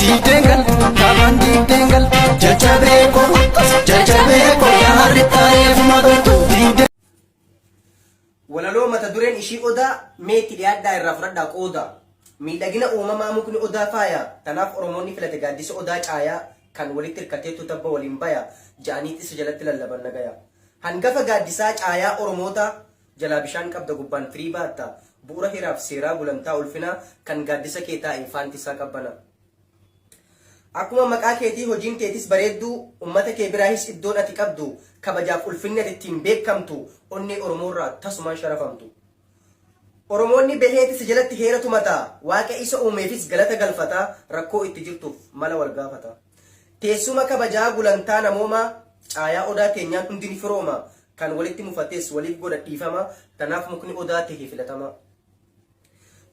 Diideen gal, dhaabaan diideen gal, jajjabee koo, jajjabee koo, yaa harri taa'ee fuma galtu. Diideen Walaloo mata dureen ishii odaa meetti dhiyaadhaa irraa fudhadhaa qooda. Miidhagina uumamaa mukni odaa faaya. Kanaaf Oromoonni filate gaaddisa odaa caayaa kan walitti hirkateetu tabba waliin baya. Ja'aniitti isa jalatti lallaban nagaya. Hangafa gaaddisaa caayaa Oromootaa jalaa bishaan qabda gubbaan firii baatta bu'ura hiraaf seeraa gulantaa ulfinaa kan gaaddisa kee taa'i faanti isaa qabbana. Akkuma maqaa keetii hojiin teetis bareedduu ummata kee biraahis iddoon ati qabdu kabajaaf ulfinni ati ittiin beekamtu onnee oromoorraa tasumaan sharafamtu. Oromoonni baheeti si jalatti heera tumata waaqa isa uumeefis galata galfata rakkoo itti jirtuuf mala wal gaafata. Teessuma kabajaa gulantaa namoomaa caayaa odaa keenyaan hundi ni firooma Kan walitti mufatees waliif godha dhiifama, tanaaf mukni odaa tahe filatamaa.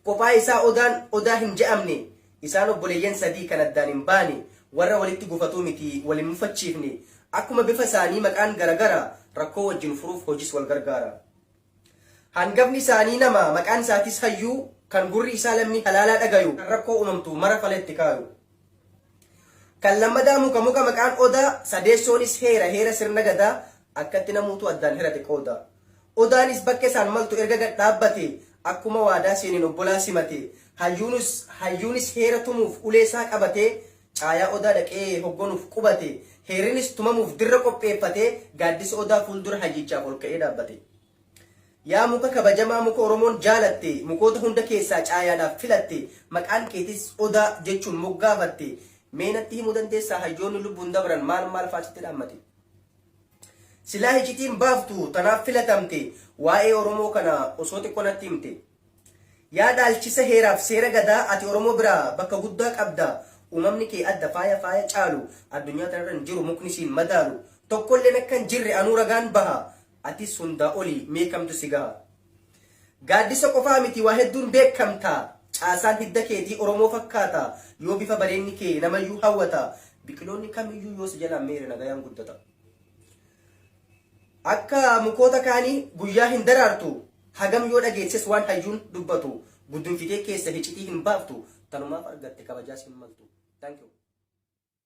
Kophaa isaa odaan odaa hin ja'amne, isaan obboleeyyan sadii kan addaan hin baane, warra walitti gufatuu miti, wal hin mufachiifne, akkuma bifa isaanii maqaan garagara, rakkoo wajjin furuuf hojis wal gargaara. Hangafni isaanii nama, maqaan isaatiis hayyuu, kan gurri isaa lammii halaalaa dhagayu, kan rakkoo uumamtu mara fala itti kaayu. Kan lammadaa muka muka maqaan Odaa, sadeessoonis heera heera sirna Gadaa, akkatti namuutuu addaan hirate qooda. Odaanis bakka isaan maltu erga gad dhaabbate, akkuma waadaa seeneen obbolaa simate, hayyuunus hayyuunis heera tumuuf ulee isaa qabatee, caayaa Odaa dhaqee hoggonuuf qubate, heerrinis tumamuuf dirra qopheeffate, gaaddisa Odaa fuuldura hayyichaaf ol ka'ee dhaabbate. Yaa muka kabajamaa muka Oromoon jaalatte, mukoota hunda keessaa caayaadhaaf filatte, maqaan keetis Odaa jechuun moggaafatte, mee natti himuu dandeessaa hayyoonni lubbuun dabran maal maal fa'aa sitti dhaammate? Silaa hicitiin baaftu tanaaf filatamte, waa'ee Oromoo kana osoo xiqqoo natti himte. Yaa dhaalchisa heeraaf seera Gadaa ati Oromoo biraa bakka guddaa qabda, uumamni kee adda faaya faaya caalu addunyaa tanarra hin jiru mukni siin madaalu tokkolleen akka hin jirre anuu ragaan baha, Atis hundaa oli mee kamtu si gaha? Gaaddisa qofaa miti waa hedduun beekamta. Caasaan hidda keetii Oromoo fakkaata. Yoo bifa bareenni kee namayyuu hawwata. Biqiloonni kamiyyuu yoo si jalaan meere nagayaan guddata. Akka mukoota kaanii guyyaa hin daraartu. Hagam yoo dhageechises waan hayyuun dubbatu. Guddunfitee keessa hicitii hin baaftu. Tanumaaf argatte kabajaas hin maltu. Thank you.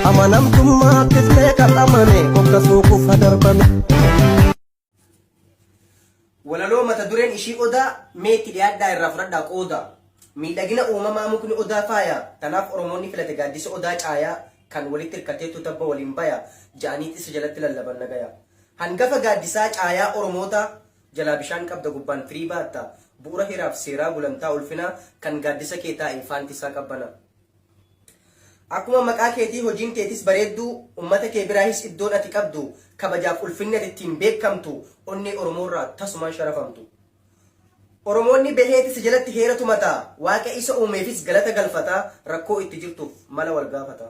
Amanamtummaa kiflee kan amane hokkasuu kufa darbame. Walaloo mata dureen ishii odaa mee itti dhiyaadhaa irraa fudhadhaa qooda. Miidhagina uumamaa mukni odaa faaya kanaaf Oromoonni filate gaaddisa odaa caayaa kan walitti hirkateettu tabba waliin baya ja'aniit isa jalatti lallaban nagaya. Hangafa gaaddisaa caayaa Oromootaa jalaa bishaan qabda gubbaan firii baatta bu'ura hiraaf seeraa gulantaa ulfinaa kan gaaddisa kee taa'e faanti isaa qabbana. Akkuma maqaa keetii hojiin teetis bareedduu, ummata kee biraahis iddoon ati qabdu, kabajaaf ulfinni ati ittiin beekkamtu onnee Oromoorraa tasumaan sharafamtu. Oromoonni baheeti si jalatti heera tumata, Waaqa isa uumeefis galata galfata, rakkoo itti jirtuuf mala wal gaafata.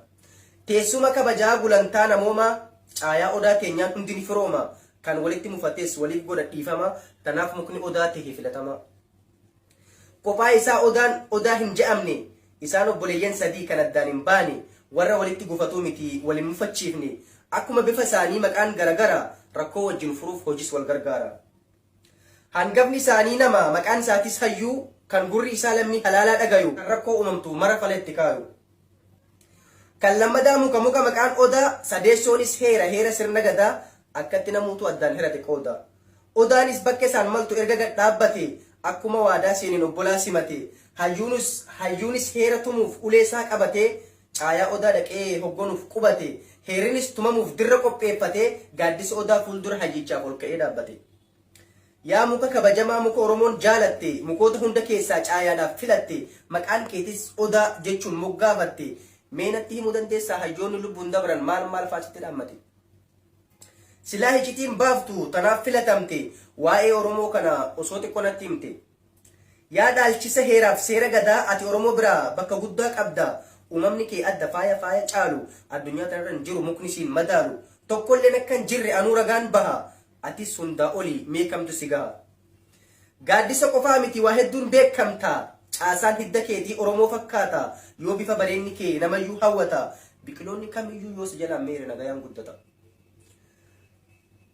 Teessuma kabajaa gulantaa namoomaa, caayaa Odaa teenyaan hundi ni firooma, kan walitti mufates waliif godha dhiifama, tanaaf mukni Odaa tahe filatamaa. Kophaa isaa Odaan Odaa hin ja'amne. Isaan obboleeyyan sadii kan addaan hin baane, warra walitti gufatuu miti, wal hin mufachiifne. Akkuma bifa isaanii maqaan garagara, rakkoo wajjin furuuf hojis wal gargaara. Hangafni isaanii nama, maqaan isaatis Hayyuu, kan gurri isaa lammii halaalaa dhagayu, kan rakkoo uumamtu mara fala itti kaayu. Kan lammadaa muka muka maqaan Odaa, sadeessoonis heera heera sirna Gadaa, akkatti namuutuu addaan hirate qooda. Odaanis bakka isaan maltu erga gad dhaabbate, akkuma waadaa seeneen obbolaa simate, hayyuunus hayyuunis heera tumuuf ulee isaa qabate, caayaa Odaa dhaqee hoggonuuf qubate, heerrinis tumamuuf dirra qopheeffate, gaaddisa Odaa fuuldura hayyichaaf ol ka'ee dhaabbate. Yaa muka kabajamaa muka Oromoon jaalatte, mukoota hunda keessaa caayaadhaaf filatte, maqaan keetis Odaa jechuun moggaafatte, mee natti himuu dandeessaa hayyoonni lubbuun dabran maal maal fa'aa sitti dhaammate? Silaa hicitiin baaftu tanaaf filatamte, waa'ee Oromoo kana osoo xiqqoo natti himte. Yaa dhaalchisa heeraaf seera Gadaa ati Oromoo biraa bakka guddaa qabda, uumamni kee adda faaya faaya caalu addunyaa tanarra hin jiru mukni siin madaalu tokkolleen akka hin jirre anuu ragaan baha, Atis hundaa oli mee kamtu si gaha? Gaaddisa qofaa miti waa hedduun beekamta. Caasaan hidda keetii Oromoo fakkaata. Yoo bifa bareenni kee namayyuu hawwata. Biqiloonni kamiyyuu yoo si jalaan meere nagayaan guddata.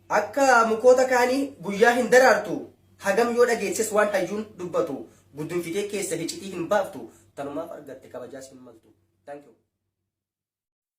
Akka mukoota kaanii guyyaa hin daraartu. Hagam yoo dhageechises waan hayyuun dubbatu. Guddunfitee keessa hicitii hin baaftu. Tanumaaf argatte kabajaas hin maltu. Thank you.